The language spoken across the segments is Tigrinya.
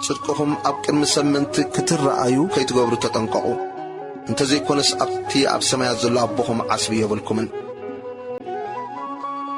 ጽድቅኹም ኣብ ቅድሚ ሰብ ምእንቲ ክትረኣዩ ከይትገብሩ ተጠንቀቑ፣ እንተ ዘይኰነስ ኣብቲ ኣብ ሰማያት ዘሎ ኣቦኹም ዓስቢ የብልኩምን።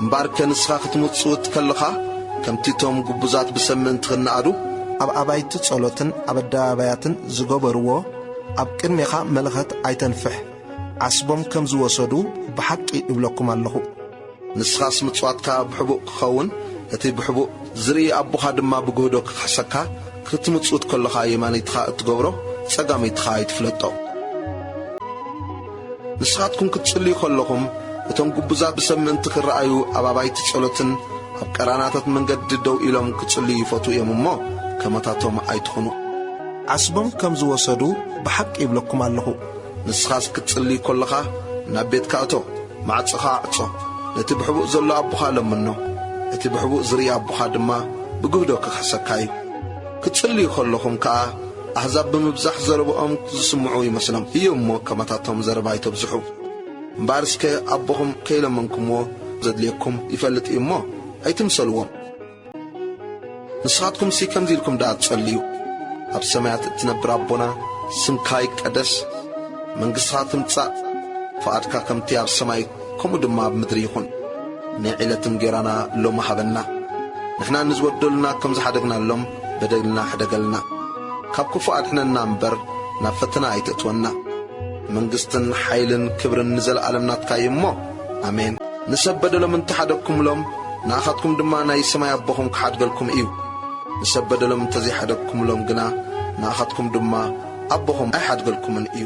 እምበኣርከ ንስኻ ክትምጽውት ከለኻ፣ ከምቲ እቶም ግቡዛት ብሰብ ምእንቲ ኽነኣዱ፣ ኣብ ኣባይቲ ጸሎትን ኣብ ኣደባባያትን ዝገበርዎ፣ ኣብ ቅድሜኻ መለኸት ኣይተንፍሕ፣ ዓስቦም ከም ዝወሰዱ ብሓቂ እብለኩም ኣለኹ። ንስኻስ ምጽዋትካ ብሕቡእ ክኸውን፣ እቲ ብሕቡእ ዚርኢ ኣቦኻ ድማ ብግህዶ ኪኽሕሰካ፣ ክትምጽውት ከሎኻ የማነይትኻ እትገብሮ፣ ጸጋመይትኻ ኣይትፍለጦ። ንስኻትኩም ክትጽልዩ ከሎኹም፣ እቶም ግቡዛት ብሰብ ምእንቲ ኪረኣዩ ኣብ ኣባይቲ ጸሎትን ኣብ ቀራናታት መንገዲ ደው ኢሎም ኪጽልዩ ይፈትዉ እዮም እሞ፣ ከማታቶም ኣይትኹኑ። ዓስቦም ከም ዝወሰዱ ብሓቂ እብለኩም ኣሎኹ። ንስኻስ ክትጽሊ ከሎኻ፣ ናብ ቤትካ እቶ። ማዕጾኻ ኣዕጾ፣ ነቲ ብሕቡእ ዘሎ ኣቦኻ ለምኖ፣ እቲ ብሕቡእ ዚርኢ ኣቦኻ ድማ ብግህዶ ኪኽሕሰካ እዩ። ክትጽልዩ ኸለኹም ከኣ፣ ኣህዛብ ብምብዛሕ ዘረብኦም ዚስምዑ ይመስሎም እዩ እሞ፣ ከማታቶም ዘረባ ኣይተብዝሑ። እምበኣር እስከ ኣቦኹም ከይለመንኩምዎ ዘድልየኩም ይፈልጥ እዩ እሞ፣ ኣይትምሰልዎም። ንስኻትኩምሲ ከምዚ ኢልኩም ደኣ ትጸልዩ፣ ኣብ ሰማያት እትነብር ኣቦና ስምካ ይቀደስ፣ መንግሥትኻ ትምጻእ፣ ፍቓድካ ከምቲ ኣብ ሰማይ ከምኡ ድማ ኣብ ምድሪ ይኹን። ናይ ዕለት እንጌራና ሎሚ ሃበና። ንሕና ንዝበደሉና ከም ዝሓደግናሎም በደልና ሕደገልና። ካብ ክፉእ ኣድሕነና እምበር ናብ ፈተና ኣይተእትወና። መንግሥትን ሓይልን ክብርን ንዘለዓለም ናትካ እዩ እሞ ኣሜን ንሰብ በደሎም እንተ ሓደግኩምሎም ንኣኻትኩም ድማ ናይ ሰማይ ኣቦኹም ክሓድገልኩም እዩ። ንሰብ በደሎም እንተ ዘይሓደግኩምሎም ግና ንኣኻትኩም ድማ ኣቦኹም ኣይሓድገልኩምን እዩ።